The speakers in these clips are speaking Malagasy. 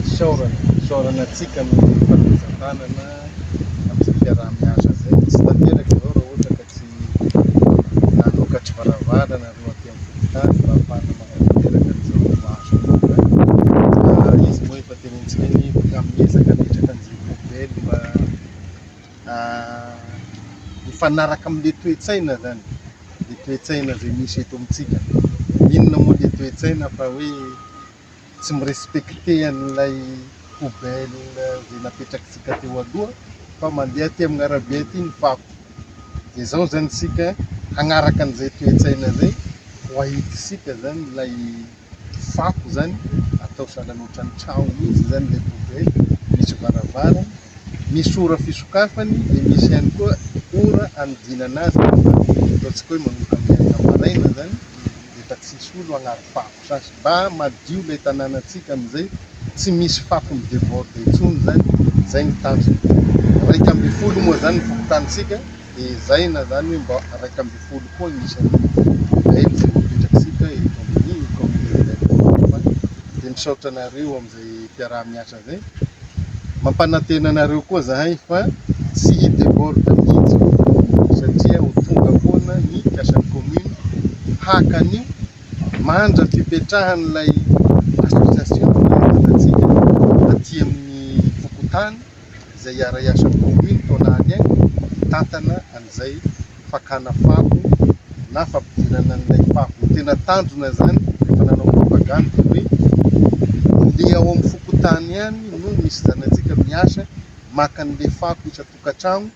fisaorana, fisaorana antsika amin'ny fanomezan-tanana amin'izay fiaraha-miasa izay. Tsy tanteraka izao raha ohatra ka tsy nanokatra varavarana ireo aty amin'ny fokontany mba hahafahana manatanteraka an'izao asa aloha. Ary izy moa efa tenenintsika hoe amin'ny ezaka ametraka an'izay poubelle mba hifanaraka amin'ilay toe-tsaina izany, ilay toe-tsaina izay misy eto amintsika. Inona moa ilay toe-tsaina fa hoe tsy mi-respecter an'ilay poubelle izay napetrakitsika teo aloha fa mandeha aty amin'ny arabe aty ny fako. Dia izao izany isika hanaraka an'izay toe-tsaina izay ho ahitantsika izany ilay fako izany atao sahala ohatran'ny trano mihitsy izany ilay poubelle, misy varavarana, misy ora fisokafany dia misy ihany koa ora hanodinana azy, ataontsika hoe manomboka amin'ny enina maraina izany dia efa tsisy olo agnary fako. Fa mba madio ilay tanànantsika amin'izay tsy misy fako mi-deborde intsony izay, izay ny tanjona. Iraika ambin'ny folo moa izany ny fokontanintsika dia ezahina izany hoe mba iraika ambin'ny folo koa ny isan'ny Belge voapetraksika eto amin'ny Commune de Belge Mafana. Dia misaotra anareo amin'izay mpiaraha-miasa izay. Mampanantena anareo koa izahay fa tsy hi-deborde mihitsy satria ho tonga foana ny mpiasan'ny Commune haka an'io. Manja fipetrahan'ilay association fanaovana tsika aty amin'ny fokontany izay iara-hiasa amin'ny commune toa lany aina hitantana an'izay fakana fako na fampidirana an'ilay fako. Ny tena tanjona izany rehefa nanao propagande dia hoe le ao amin'ny fokontany ihany no misy zanatsika miasa maka an'ilay fako isan-tokantragno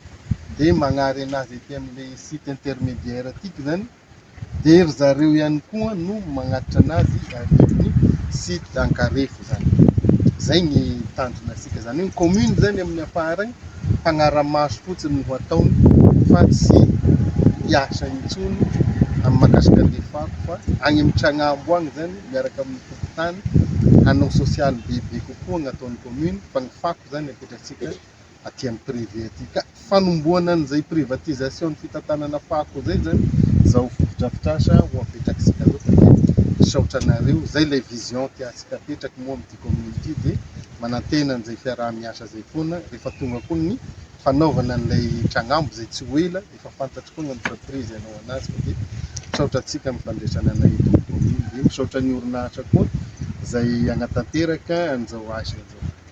dia magnarena azy aty amin'ilay site intermédiaire aty izany dia ry zareo ihany koa no magnatitra anazy arivony sy ankarefo zany zay ny tanjona asika zany ny commune zany amin'ny ampaharany mpanaramaso fotsiny ho ataony fa tsy hiasa intsony amin'ny makasika ny fako fa any amin'ny tragnambo any zany miaraka amin'ny fokontany hanao sosialy bebe kokoa ny ataon'ny commune fa ny fako zany apetratsika aty amin'ny privé aty ka fanombohana an'izay privatisation ny fitantanana fako izay zany izao fotodrafitrasa ho apetrak'isika zao fa dia misaotra anareo zay ilay vision tiantsika apetraky moa amin'ity commune ity dia manantena an'izay fiaraha-miasa izay foana rehefa tonga koa ny fanaovana an'ilay tragnambo izay tsy ho ela efa fantatro koa ny entreprise hanao anazy fa dia misaotra antsika amin'ny fandraisana anay eto amin'ny commune dia misaotra ny orinasa koa izay hanatanteraka an'izao asa izao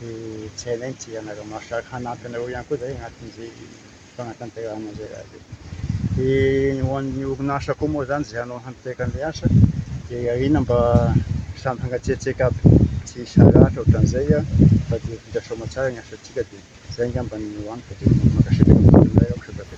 Dia tsy hainay ny tsy ianareo mahasarika hanampy anareo ihany koa izay anatin'izay fanatanterahana izay raha izay. Dia ny ho an'ny orinasa koa moa izany izay hanao hamipetra an'ilay asa dia iarina mba samy hangatsiatsiaka aby tsy hisy haratra ohatran'izay an, fa dia vita soamatsara ny asantsika dia izay angamba ny ho amiko dia mankasitraka mitomany indray aho Kristianina.